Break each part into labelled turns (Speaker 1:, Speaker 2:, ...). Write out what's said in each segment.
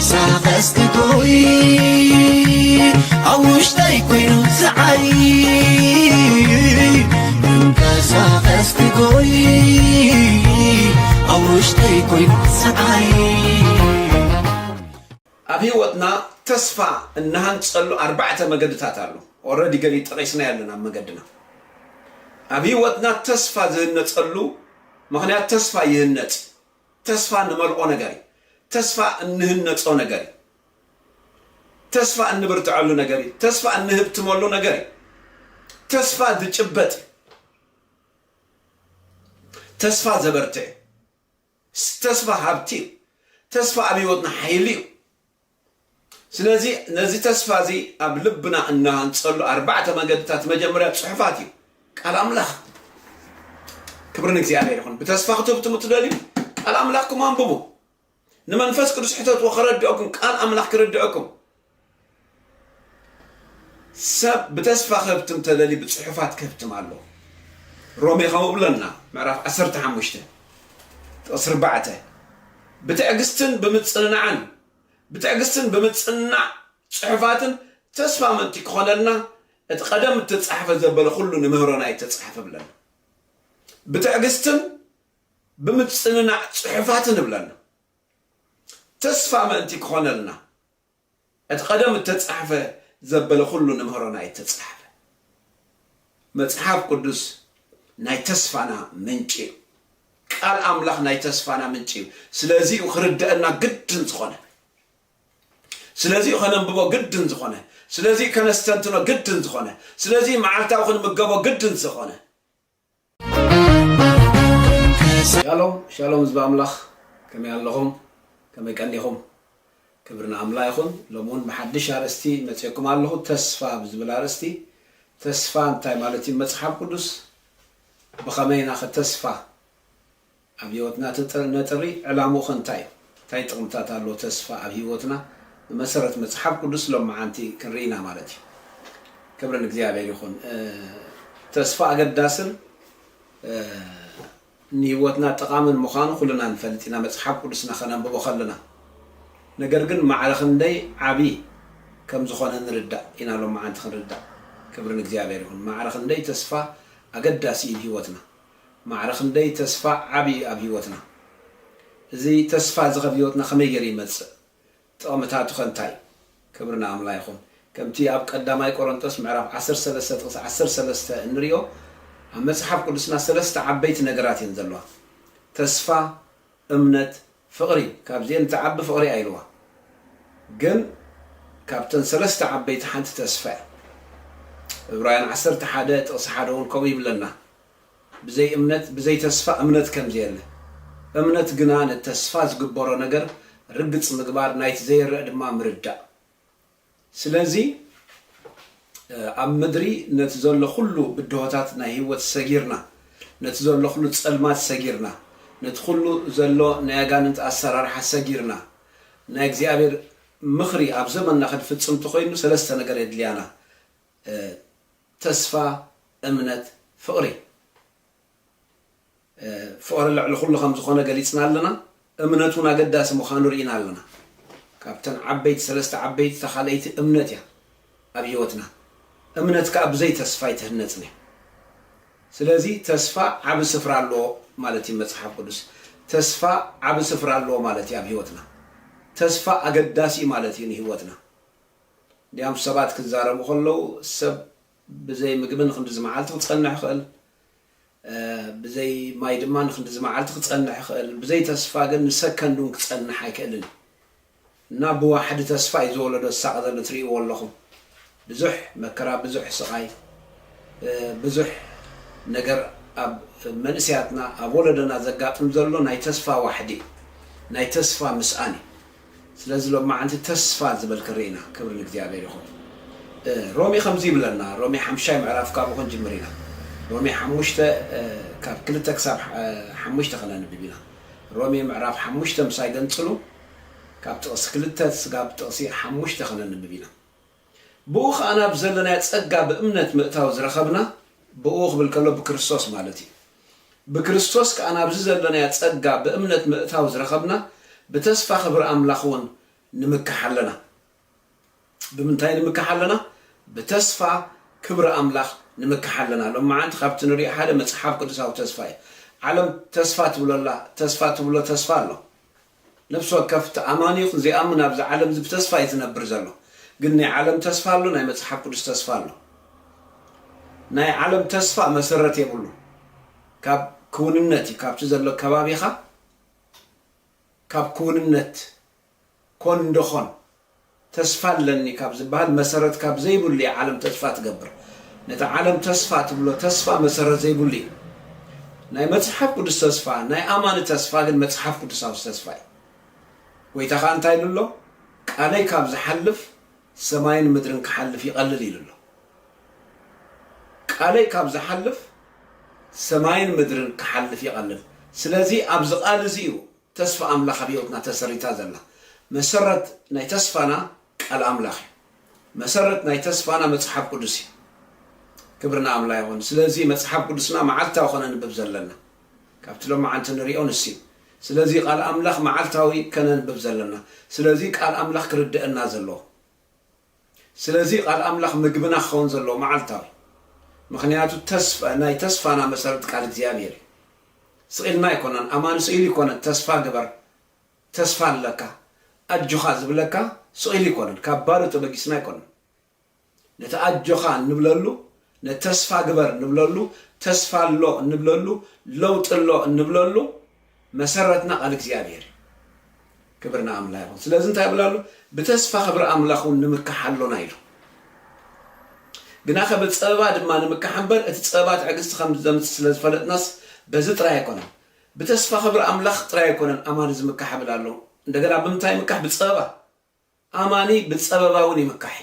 Speaker 1: ክንቀሳቐስ ክቶይ ኣብ ውሽጠይ ኮይኑ ዝዓይ ክንቀሳቐስ ክጎይ ኣብ ውሽጠይ ኮይኑ ዝዓይ
Speaker 2: ኣብ ህይወትና ተስፋ እንሃንፀሉ ኣርባዕተ መገድታት ኣሎ ኦረዲ ገሊ ጠቂስና ያለን ኣብ መገድና ኣብ ህይወትና ተስፋ ዝህነፀሉ ምክንያት ተስፋ ይህነፅ ተስፋ ንመልኦ ነገር እዩ። ተስፋ እንህነጾ ነገር እዩ። ተስፋ እንብርትዐሉ ነገር እዩ። ተስፋ እንህብትመሉ ነገር እዩ። ተስፋ ዝጭበጥ እዩ። ተስፋ ዘበርትዕ እዩ። ተስፋ ሃብቲ እዩ። ተስፋ ኣብ ህይወትና ሓይሊ እዩ። ስለዚ ነዚ ተስፋ እዚ ኣብ ልብና እንሃንጸሉ ኣርባዕተ መገድታት መጀመርያ ጽሑፋት እዩ ቃል ኣምላኽ ክብሪ ንእግዚኣብሔር ይኹን ብተስፋ ክትብትሙ ትደልዩ ቃል ኣምላኽኩም ኣንብቡ ንመንፈስ ቅዱስ ሕተትዎ ከረድኦኩም ቃል ኣምላኽ ክርድኦኩም ሰብ ብተስፋ ክህብትም ተደልዩ ብጽሑፋት ክህብትም ኣሎ ሮሜ ከምኡ ብለና ምዕራፍ 15 ጥቕሲ 4 ብትዕግስትን ብምጽንናዕን ብትዕግስትን ብምጽንናዕ ጽሑፋትን ተስፋ ምእንቲ ክኾነልና እቲ ቀደም እተጻሕፈ ዘበለ ኩሉ ንምህሮና እተጻሕፈ እብለና። ብትዕግስትን ብምጽንናዕ ጽሑፋትን እብለና። ተስፋ ምእንቲ ክኾነልና እቲ ቀደም እተጻሕፈ ዘበለ ኩሉ ንምህሮና እተጻሕፈ መጽሓፍ ቅዱስ ናይ ተስፋና ምንጪ እዩ። ቃል ኣምላኽ ናይ ተስፋና ምንጪ እዩ። ስለዚ እዩ ክርደአና ግድን ዝኾነ። ስለዚ እዩ ከነንብቦ ግድን ዝኾነ። ስለዚ እዩ ከነስተንትኖ ግድን ዝኾነ። ስለዚ እዩ መዓልታዊ ክንምገቦ ግድን ዝኾነ። ሻሎም ሻሎም ህዝቢ ኣምላኽ ከመይ ኣለኹም ከመይ ቀኒኹም ክብሪ ንኣምላ ይኹን ሎሚ ውን ብሓድሽ ኣርእስቲ መጼኩም ኣለኹ ተስፋ ብዝብል ኣርእስቲ ተስፋ እንታይ ማለት እዩ መጽሓፍ ቁዱስ ብኸመይ ኢና ከ ተስፋ ኣብ ሂወትና ነጥሪ ዕላምኡ ከ እንታይ እዩ እንታይ ጥቅምታት ኣለዎ ተስፋ ኣብ ሂወትና ብመሰረት መጽሓፍ ቁዱስ ሎምዓንቲ ክንርኢ ኢና ማለት እዩ ክብሪ ንእግዚኣብሔር ይኹን ተስፋ ኣገዳስን ንህይወትና ጠቓምን ምዃኑ ኩልና ንፈልጥ ኢና መጽሓፍ ቅዱስና ከነንብቦ ከለና ነገር ግን ማዕረ ክንደይ ዓቢ ከም ዝኾነ ንርዳእ ኢና ሎምዓንቲ ክንርዳእ ክብሪ ንእግዚኣብሔር ይኹን ማዕረ ክንደይ ተስፋ ኣገዳሲ እዩ ንህይወትና ማዕረ ክንደይ ተስፋ ዓቢ እዩ ኣብ ህይወትና እዚ ተስፋ እዚ ከብ ህይወትና ከመይ ገይሩ ይመጽእ ጥቕምታቱኸ እንታይ? ክብሪ ንኣምላ ይኹን። ከምቲ ኣብ ቀዳማይ ቆረንጦስ ምዕራፍ ዓሰርተ ሰለስተ ጥቕሲ ዓሰርተ ሰለስተ እንሪኦ ኣብ መጽሓፍ ቅዱስና ሰለስተ ዓበይቲ ነገራት እየን ዘለዋ። ተስፋ፣ እምነት፣ ፍቕሪ ካብዚኤን እትዓቢ ፍቕሪ'ያ ኢልዋ። ግን ካብተን ሰለስተ ዓበይቲ ሓንቲ ተስፋ'ያ። እብራውያን ዓሰርተ ሓደ ጥቕሲ ሓደ ውን ከምኡ ይብለና። ብዘይ እምነት ብዘይ ተስፋ እምነት ከምዘየለ እምነት ግና ነቲ ተስፋ ዝግበሮ ነገር ርግጽ ምግባር ናይቲ ዘይረእ ድማ ምርዳእ ስለዚ ኣብ ምድሪ ነቲ ዘሎ ኩሉ ብድሆታት ናይ ህይወት ሰጊርና ነቲ ዘሎ ኩሉ ጸልማት ሰጊርና ነቲ ኩሉ ዘሎ ናይ ኣጋንንቲ ኣሰራርሓ ሰጊርና ናይ እግዚኣብሔር ምኽሪ ኣብ ዘመንና ክንፍጽም ተኾይኑ ሰለስተ ነገር የድልያና ተስፋ እምነት ፍቕሪ ፍቕሪ ልዕሊ ኩሉ ከም ዝኾነ ገሊጽና ኣለና እምነት ውን ኣገዳሲ ምዃኑ ርኢና ኣለና ካብተን ዓበይቲ ሰለስተ ዓበይቲ እታ ካልኣይቲ እምነት እያ ኣብ ሂወትና እምነት ከኣ ብዘይ ተስፋ ኣይትህነጽን እያ ስለዚ ተስፋ ዓቢ ስፍራ ኣለዎ ማለት እዩ መጽሓፍ ቅዱስ ተስፋ ዓቢ ስፍራ ኣለዎ ማለት እዩ ኣብ ሂወትና ተስፋ ኣገዳሲ ማለት እዩ ንሂወትና ድያም ሰባት ክዛረቡ ከለዉ ሰብ ብዘይ ምግቢ ንኽንድዚ መዓልቲ ክጸንሕ ይኽእል፣ ብዘይ ማይ ድማ ንኽንድዚ መዓልቲ ክጸንሕ ይኽእል፣ ብዘይ ተስፋ ግን ንሰከንድ እውን ክጸንሕ ኣይክእልን እዩ እና ብዋሕዲ ተስፋ እዩ ዝወለዶ ዝሳቐ ዘሎ ትርእይዎ ኣለኹም ብዙሕ መከራ ብዙሕ ስቓይ ብዙሕ ነገር ኣብ መንእሰያትና ኣብ ወለዶና ዘጋጥም ዘሎ ናይ ተስፋ ዋሕዲ እዩ ናይ ተስፋ ምስኣን እዩ። ስለዚ ሎማዓንቲ ተስፋ ዝበልክ ሪኢና ክብሪ ንእግዚኣብሔር ይኩን ሮሚ ከምዚ ይብለና ሮሚ ሓምሻይ ምዕራፍ ካብኡ ክንጅምር ኢና ሮሚ ሓሙሽተ ካብ ክልተ ክሳብ ሓሙሽተ ከነንብብ ኢና ሮሚ ምዕራፍ ሓሙሽተ ምሳይ ገንጽሉ ካብ ጥቅሲ ክልተ ስጋብ ጥቅሲ ሓሙሽተ ከነንብብ ኢና። ብእኡ ኸኣ ናብ ዘለናዮ ጸጋ ብእምነት ምእታው ዝረኸብና፣ ብእኡ ክብል ከሎ ብክርስቶስ ማለት እዩ፣ ብክርስቶስ ከኣ ናብዚ ዘለናዮ ጸጋ ብእምነት ምእታው ዝረኸብና ብተስፋ ክብሪ ኣምላኽውን ንምካሕ ኣለና። ብምንታይ ንምካሕ ኣለና? ብተስፋ ክብሪ ኣምላኽ ንምካሕ ኣለና። ሎምዓንቲ ካብቲ ንርእዮ ሓደ መጽሓፍ ቅዱሳዊ ተስፋ እዩ። ዓለም ተስፋ ትብሎ ኣላ፣ ተስፋ ትብሎ ተስፋ ኣሎ። ነፍሲ ወከፍ ተኣማኒ ይኹን ዘይኣምን ኣብዚ ዓለም እዚ ብተስፋ እዩ ዝነብር ዘሎ ግን ናይ ዓለም ተስፋ ኣሎ ናይ መጽሓፍ ቅዱስ ተስፋ ኣሎ ናይ ዓለም ተስፋ መሰረት የብሉ ካብ ክውንነት እዩ ካብቲ ዘሎ ከባቢኻ ካብ ክውንነት ኮን እንዶ ኾን ተስፋ ኣለኒ ካብ ዝበሃል መሰረት ካብ ዘይብሉ እያ ዓለም ተስፋ ትገብር። ነቲ ዓለም ተስፋ ትብሎ ተስፋ መሰረት ዘይብሉ እዩ። ናይ መጽሓፍ ቅዱስ ተስፋ፣ ናይ ኣማኒ ተስፋ ግን መጽሓፍ ቅዱሳዊ ተስፋ እዩ። ጐይታ ኸኣ እንታይ ኢሉ ኣሎ? ቃለይ ካብ ዝሓልፍ ሰማይን ምድርን ክሓልፍ ይቐልል ኢሉ ኣሎ። ቃለይ ካብ ዝሓልፍ ሰማይን ምድርን ክሓልፍ ይቐልል። ስለዚ ኣብዚ ቃል እዚ እዩ ተስፋ ኣምላኽ ኣብ ህይወትና ተሰሪታ ዘላ። መሰረት ናይ ተስፋና ቃል ኣምላኽ እዩ። መሰረት ናይ ተስፋና መጽሓፍ ቅዱስ እዩ። ክብሪ ንኣምላ ይኹን። ስለዚ መጽሓፍ ቅዱስና መዓልታዊ ከነንብብ ዘለና። ካብቲ ሎማዓንቲ ንሪኦ ንሱ እዩ። ስለዚ ቃል ኣምላኽ መዓልታዊ ከነንብብ ዘለና። ስለዚ ቃል ኣምላኽ ክርደእና ዘለዎ። ስለዚ ቃል ኣምላኽ ምግብና ክኸውን ዘለዎ መዓልታዊ ምኽንያቱ ተስፋ ናይ ተስፋና መሰረት ቃል እግዚኣብሔር እዩ ስቂልና ኣይኮናን ኣማን ስኢሉ ኣይኮነን ተስፋ ግበር ተስፋ ኣለካ ኣጆኻ ዝብለካ ስቂሉ ኣይኮነን ካብ ባዶ ተበጊስና ኣይኮነን ነቲ ኣጆኻ እንብለሉ ንተስፋ ግበር እንብለሉ፣ ተስፋ ኣሎ እንብለሉ፣ ለውጢ ኣሎ እንብለሉ መሰረትና ቃል እግዚኣብሔር እዩ። ክብር ንኣምላ ይኹን። ስለዚ እንታይ ይብል ኣሎ? ብተስፋ ክብሪ ኣምላኽ እውን ንምካሕ ኣሎና ኢሉ። ግናኸ ብፀበባ ድማ ንምካሕ እምበር እቲ ፀበባ ትዕግስቲ ከም ዘምፅ ስለ ዝፈለጥናስ በዚ ጥራይ ኣይኮነን። ብተስፋ ክብሪ ኣምላኽ ጥራይ ኣይኮነን ኣማኒ ዝምካሕ ይብል ኣሎ። እንደገና ብምንታይ ምካሕ? ብፀበባ። ኣማኒ ብጸበባ ውን ይምካሕ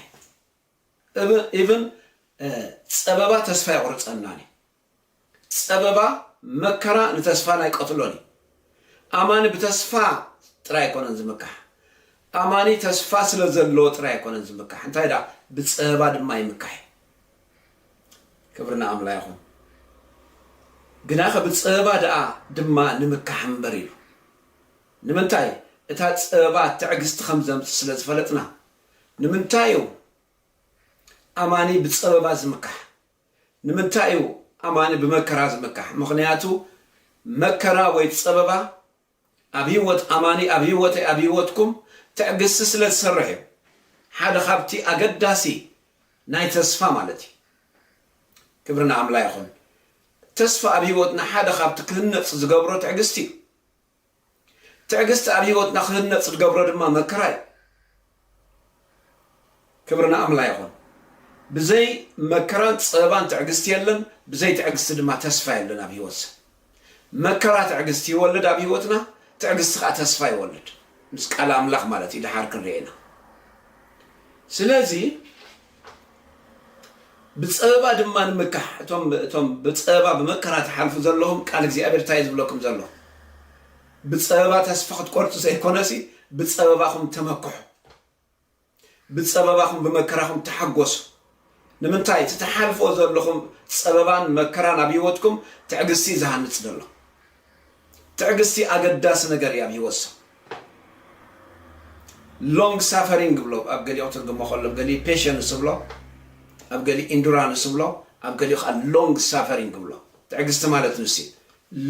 Speaker 2: እዩ even ጸበባ ተስፋ የቁርጸናን እዩ ጸበባ መከራ ንተስፋና ይቀትሎን እዩ ኣማኒ ብተስፋ ጥራይ ኣይኮነን ዝምካሕ ኣማኒ ተስፋ ስለ ዘለዎ ጥራይ ኣይኮነን ዝምካሕ እንታይ ደኣ ብጸበባ ድማ ይምካሕ እዩ ክብሪ ንኣምላ ይኹን ግናኸ ብጸበባ ደኣ ድማ ንምካሕ እምበር ኢሉ ንምንታይ? እታ ጸበባ ትዕግስቲ ኸም ዘምጽእ ስለ ዝፈለጥና። ንምንታይ እዩ ኣማኒ ብጸበባ ዝምካሕ? ንምንታይ እዩ ኣማኒ ብመከራ ዝምካሕ? ምኽንያቱ መከራ ወይ ጸበባ ኣብ ህይወት ኣማኒ፣ ኣብ ህይወተይ፣ ኣብ ህይወትኩም ትዕግስቲ ስለ ዝሰርሕ እዩ። ሓደ ኻብቲ ኣገዳሲ ናይ ተስፋ ማለት እዩ። ክብሪ ንኣምላ ይኹን። ተስፋ ኣብ ህይወትና ሓደ ኻብቲ ክህነጽ ዝገብሮ ትዕግስቲ እዩ። ትዕግስቲ ኣብ ህይወትና ክህነፅ ዝገብሮ ድማ መከራ እዩ። ክብሪ ንኣምላ ይኹን። ብዘይ መከራን ፀበባን ትዕግስቲ የለን፣ ብዘይ ትዕግስቲ ድማ ተስፋ የለን ኣብ ህይወት ሰብ። መከራ ትዕግስቲ ይወልድ ኣብ ህይወትና፣ ትዕግስቲ ከዓ ተስፋ ይወልድ ምስ ቃል ኣምላኽ ማለት እዩ፣ ደሓር ክንሪኤ ኢና። ስለዚ ብጸበባ ድማ ንምካሕ እቶም እቶም ብጸበባ ብመከራ ትሓልፉ ዘለኹም ቃል እግዚኣብሔር እንታይ ዝብለኩም ዘሎ ብጸበባ ተስፋ ክትቆርጹ ዘይኮነሲ ብጸበባኹም ተመክሑ ብጸበባኹም ብመከራኹም ተሓጎሱ ንምንታይ እቲ ተሓልፎ ዘለኹም ጸበባን መከራን ኣብ ህይወትኩም ትዕግስቲ ዝሃንጽ ዘሎ ትዕግስቲ ኣገዳሲ ነገር እያ ኣብ ሂወት ሰብ long suffering እብሎ ኣብ ገሊኡ ክትርግሞ ከሎ ኣብ ገሊኡ patience እብሎ ኣብ ገሊኡ endurance እብሎ ኣብ ገሊኡ ከዓ long suffering እብሎ ትዕግስቲ ማለት ንሱ እዩ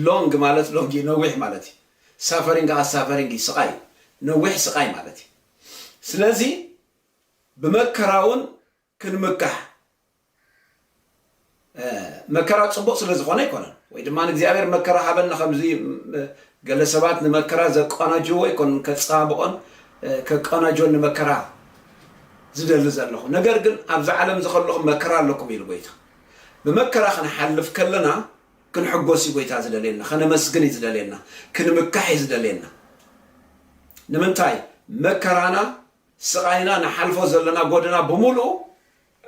Speaker 2: long ማለት long እዩ ነዊሕ ማለት እዩ suffering ከዓ suffering እዩ ስቃይ እዩ ነዊሕ ስቃይ ማለት እዩ ስለዚ ብመከራውን ክንምካሕ መከራ ጽቡቕ ስለ ዝኾነ ኣይኮነን ወይ ድማ ንእግዚኣብሔር መከራ ሃበና ከምዚ ገለ ሰባት ንመከራ ዘቀናጅዎ ኣይኮን ከጸባብቖን ከቀናጆን ንመከራ ዝደሊ ዘለኹ ነገር ግን ኣብዚ ዓለም እዚ ከለኹም መከራ ኣለኩም ኢሉ ጎይታ ብመከራ ክንሓልፍ ከለና ክንሕጎስ እዩ ጎይታ ዝደልየና ከነመስግን እዩ ዝደልየና ክንምካሕ እዩ ዝደልየና ንምንታይ መከራና ስቓይና ንሓልፎ ዘለና ጎደና ብምሉኡ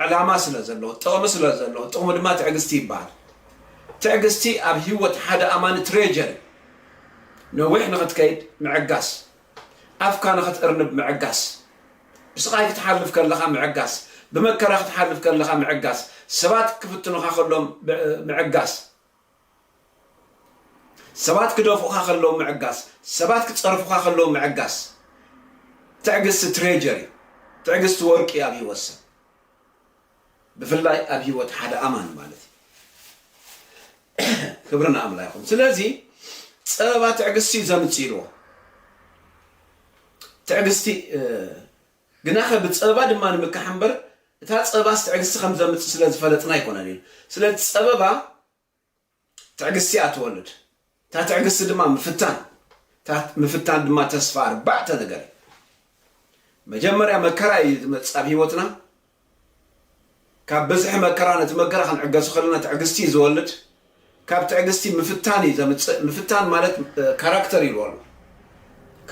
Speaker 2: ዕላማ ስለ ዘለዎ፣ ጥቕሚ ስለ ዘለዎ፣ ጥቕሙ ድማ ትዕግስቲ ይበሃል። ትዕግስቲ ኣብ ህይወት ሓደ ኣማኒ ትሬጀር እዩ። ነዊሕ ንኽትከይድ ምዕጋስ፣ ኣፍካ ንኽትእርንብ ምዕጋስ፣ ብስቓይ ክትሓልፍ ከለኻ ምዕጋስ፣ ብመከራ ክትሓልፍ ከለኻ ምዕጋስ፣ ሰባት ክፍትኑኻ ከሎም ምዕጋስ፣ ሰባት ክደፍኡኻ ከለዉ ምዕጋስ፣ ሰባት ክጸርፉኻ ከለዉ ምዕጋስ፣ ትዕግስቲ ትሬጀር እዩ፣ ትዕግስቲ ወርቂ እዩ ኣብ ህይወት ሰብ፣ ብፍላይ ኣብ ህይወት ሓደ ኣማኒ ማለት እዩ። ክብሪ ንኣምላ ይኹን። ስለዚ ጸበባ ትዕግስቲ እዩ ዘምጽእ ኢልዎ። ትዕግስቲ ግናኸ ብጸበባ ድማ ንምካሕ እምበር፣ እታ ጸበባስ ትዕግስቲ ከም ዘምጽእ ስለ ዝፈለጥና ኣይኮነን ኢሉ። ስለቲ ጸበባ ትዕግስቲ እያ እትወልድ፣ እታ ትዕግስቲ ድማ ምፍታን፣ እታ ምፍታን ድማ ተስፋ። ኣርባዕተ ነገር እዩ። መጀመርያ መከራ እዩ ዝመጽእ ኣብ ህይወትና፣ ካብ ብዝሒ መከራ ነቲ መከራ ክንዕገሶ ከለና ትዕግስቲ እዩ ዝወልድ ካብ ትዕግስቲ ምፍታን እዩ ዘምጽእ ምፍታን ማለት ካራክተር ይብሉ ኣሎ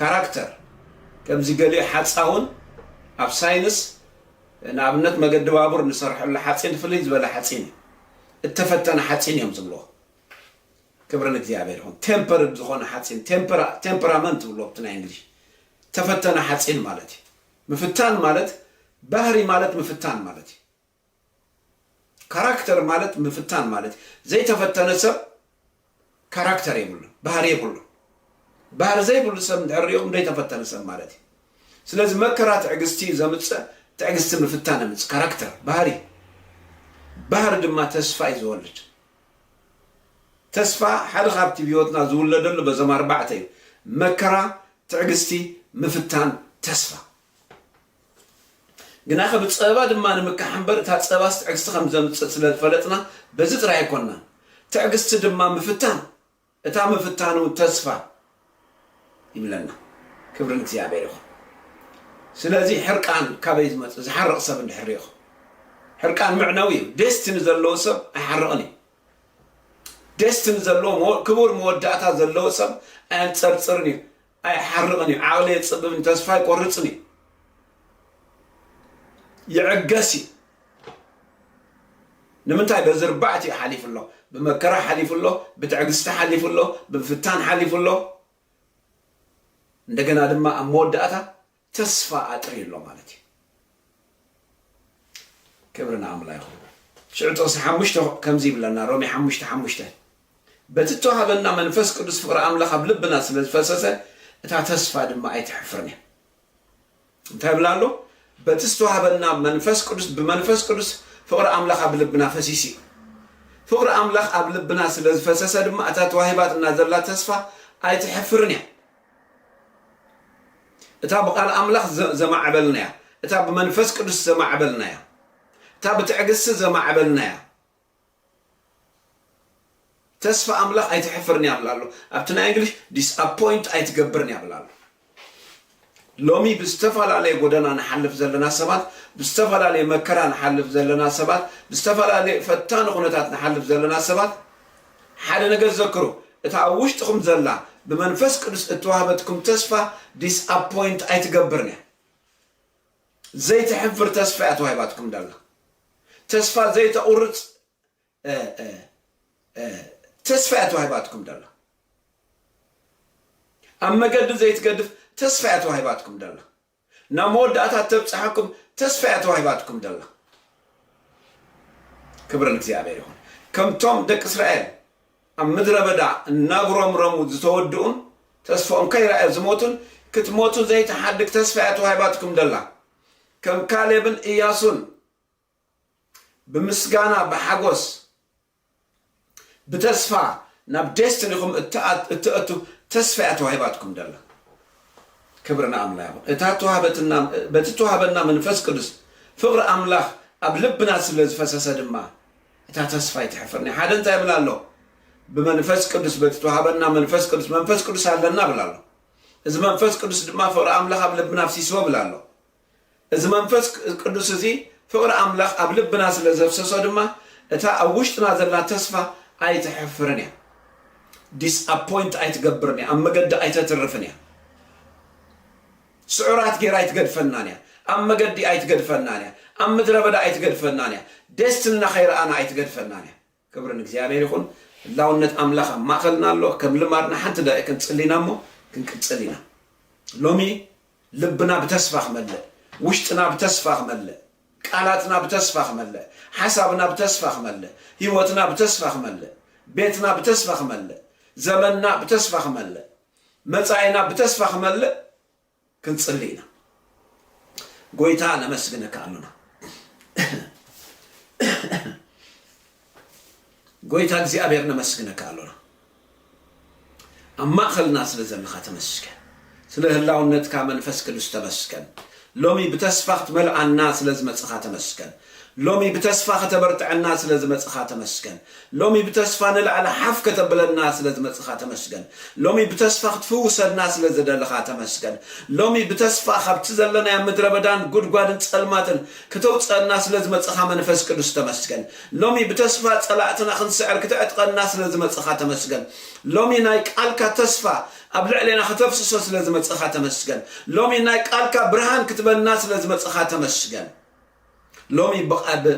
Speaker 2: ካራክተር ከምዚ ገሊኡ ሓጻውን ኣብ ሳይንስ ንኣብነት መገዲ ባቡር ንሰርሐሉ ሓጺን ፍልይ ዝበለ ሓጺን እዩ እተፈተነ ሓጺን እዮም ዝብልዎ ክብሪ ንእግዚኣብሔር ይኹን ቴምፐርድ ዝኾነ ሓጺን ቴምፐራመንት ይብልዎ ብቲ ናይ እንግሊሽ ተፈተነ ሓጺን ማለት እዩ ምፍታን ማለት ባህሪ ማለት ምፍታን ማለት እዩ ካራክተር ማለት ምፍታን ማለት እዩ ዘይተፈተነ ሰብ ካራክተር የብሉን ባህሪ የብሉን ባህሪ ዘይብሉ ሰብ እንድሕር ሪኦም ዘይተፈተነ ሰብ ማለት እዩ ስለዚ መከራ ትዕግስቲ እዩ ዘምፅእ ትዕግስቲ ምፍታን የምፅእ ካራክተር ባህሪ ባህሪ ድማ ተስፋ እዩ ዝወልድ ተስፋ ሓደ ካብቲ ብህይወትና ዝውለደሉ በዞም ኣርባዕተ እዩ፣ መከራ፣ ትዕግስቲ፣ ምፍታን፣ ተስፋ። ግናኸ ብጸባ ድማ ንምካሕ እምበር እታ ጸባስ ትዕግስቲ ከም ዘምጽእ ስለ ዝፈለጥና በዚ ጥራይ ኣይኮናን። ትዕግስቲ ድማ ምፍታን። እታ ምፍታኑ ተስፋ ይብለና ክብሪ ንእግዚኣብሔር ይኹን ስለዚ ሕርቃን ካበይ ዝመጽእ ዝሓርቕ ሰብ እንድሕር ሪኢኹም ሕርቃን መዕነዊ እዩ ደስትኒ ዘለዎ ሰብ ኣይሓርቕን እዩ ደስትኒ ዘለዎ ክቡር መወዳእታ ዘለዎ ሰብ ኣየንጸርጽርን እዩ ኣይሓርቕን እዩ ዓቕሊ የጽብብን ተስፋ ኣይቆርጽን እዩ ይዕገስ እዩ ንምንታይ በዚ ርባዕት እዩ ሓሊፉ ኣሎ ብመከራ ሓሊፉ ኣሎ ብትዕግስቲ ሓሊፉ ኣሎ ብምፍታን ሓሊፉ ኣሎ እንደገና ድማ ኣብ መወዳእታ ተስፋ ኣጥርዩ ኣሎ ማለት እዩ ክብሪ ንኣምላ ይኹን ሽዑ ጥቕሲ ሓሙሽተ ከምዚ ይብለና ሮሜ ሓሙሽተ ሓሙሽተ በቲ እተዋሃበና መንፈስ ቅዱስ ፍቕሪ ኣምላኽ ኣብ ልብና ስለ ዝፈሰሰ እታ ተስፋ ድማ ኣይትሕፍርን እያ እንታይ ብላ ኣሎ በቲ ዝተዋሃበና መንፈስ ቅዱስ ብመንፈስ ቅዱስ ፍቕሪ ኣምላኽ ኣብ ልብና ፈሲስ እዩ ፍቕሪ ኣምላኽ ኣብ ልብና ስለ ዝፈሰሰ ድማ እታ ተዋሂባትና ዘላ ተስፋ ኣይትሕፍርን እያ እታ ብቓል ኣምላኽ ዘማዕበልናያ፣ እታ ብመንፈስ ቅዱስ ዘማዕበልናያ፣ እታ ብትዕግስቲ ዘማዕበልናያ ተስፋ ኣምላኽ ኣይተሕፍርን እያ ብላ ኣሎ። ኣብቲ ናይ እንግሊሽ ዲስኣፖይንት ኣይትገብርን እያ ብላ ኣሎ። ሎሚ ብዝተፈላለየ ጎደና ንሓልፍ ዘለና ሰባት፣ ብዝተፈላለየ መከራ ንሓልፍ ዘለና ሰባት፣ ብዝተፈላለየ ፈታኒ ኩነታት ንሓልፍ ዘለና ሰባት ሓደ ነገር ዘክሩ፣ እታ ኣብ ውሽጥኹም ዘላ ብመንፈስ ቅዱስ እተዋህበትኩም ተስፋ ዲስኣፖይንት ኣይትገብርን እያ። ዘይተሕፍር ተስፋ እያ ተዋሂባትኩም ዘላ። ተስፋ ዘይተቑርጽ ተስፋ እያ ተዋሂባትኩም ዘላ። ኣብ መገዲ ዘይትገድፍ ተስፋ እያ ተዋሂባትኩም ዘላ። ናብ መወዳእታ እተብጽሓኩም ተስፋ እያ ተዋሂባትኩም ዘላ። ክብሪ ንእግዚኣብሄር ይኹን። ከምቶም ደቂ እስራኤል ኣብ ምድረ በዳ እናጉረምረሙ ዝተወድኡን ተስፍኦም ከይረኣዩ ዝሞቱን ክትሞቱ ዘይትሓድግ ተስፋ እያ ተዋሂባትኩም ዘላ። ከም ካሌብን እያሱን ብምስጋና ብሓጎስ ብተስፋ ናብ ዴስትኒኹም እትእቱ ተስፋ እያ ተዋሂባትኩም ደላ ክብሪ ንኣምላ ይኹን እታ ተዋህበትና በቲ ተዋህበና መንፈስ ቅዱስ ፍቕሪ ኣምላኽ ኣብ ልብና ስለ ዝፈሰሰ ድማ እታ ተስፋ ይትሕፍርኒ ሓደ እንታይ ይብል ኣሎ ብመንፈስ ቅዱስ በቲ ተዋህበና መንፈስ ቅዱስ መንፈስ ቅዱስ ኣለና ብላ ኣሎ እዚ መንፈስ ቅዱስ ድማ ፍቕሪ ኣምላኽ ኣብ ልብና ኣፍሲስዎ ብላ ኣሎ እዚ መንፈስ ቅዱስ እዚ ፍቕሪ ኣምላኽ ኣብ ልብና ስለ ዘፍሰሶ ድማ እታ ኣብ ውሽጥና ዘላ ተስፋ ኣይተሕፍርን እያ። ዲስኣፖይንት ኣይትገብርን እያ፣ ኣብ መገዲ ኣይተትርፍን እያ፣ ስዑራት ጌራ ኣይትገድፈናን እያ፣ ኣብ መገዲ ኣይትገድፈናን እያ፣ ኣብ ምድረ በዳ ኣይትገድፈናን እያ፣ ደስትንና ከይረኣና ኣይትገድፈናን እያ። ክብሪ ንእግዚኣብሔር ይኹን ህላውነት ኣምላኽ ኣብ ማእኸልና ኣሎ ከም ልማድና ሓንቲ ደቂቅ ክንጽሊ ኢና እሞ ክንቅጽል ኢና ሎሚ ልብና ብተስፋ ክመልእ ውሽጥና ብተስፋ ክመልእ ቃላትና ብተስፋ ክመልእ ሓሳብና ብተስፋ ክመልእ ህይወትና ብተስፋ ክመልእ ቤትና ብተስፋ ክመልእ ዘመንና ብተስፋ ክመልእ መጻኢና ብተስፋ ክመልእ ክንጽሊ ኢና ጎይታ ነመስግነካ ኣሎና ጎይታ እግዚኣብሔር ነመስግነካ ኣሎና ኣብ ማእኸልና ስለ ዘለኻ ተመስገን ስለ ህላውነትካ መንፈስ ቅዱስ ተመስገን ሎሚ ብተስፋ ክትመልኣና ስለ ዝመጽኻ ተመስገን ሎሚ ብተስፋ ከተበርትዐና ስለ ዝመጽኻ ተመስገን። ሎሚ ብተስፋ ንላዕሊ ሓፍ ከተብለና ስለ ዝመጽኻ ተመስገን። ሎሚ ብተስፋ ክትፍውሰና ስለ ዝደለኻ ተመስገን። ሎሚ ብተስፋ ካብቲ ዘለናዮ ምድረበዳን ጉድጓድን ጸልማትን ክተውጽኣና ስለ ዝመጽኻ መንፈስ ቅዱስ ተመስገን። ሎሚ ብተስፋ ጸላእትና ክንስዕር ክተዕጥቐና ስለ ዝመጽኻ ተመስገን። ሎሚ ናይ ቃልካ ተስፋ ኣብ ልዕሌና ከተፍስሶ ስለ ዝመጽኻ ተመስገን። ሎሚ ናይ ቃልካ ብርሃን ክትበና ስለ ዝመጽኻ ተመስገን። ሎሚ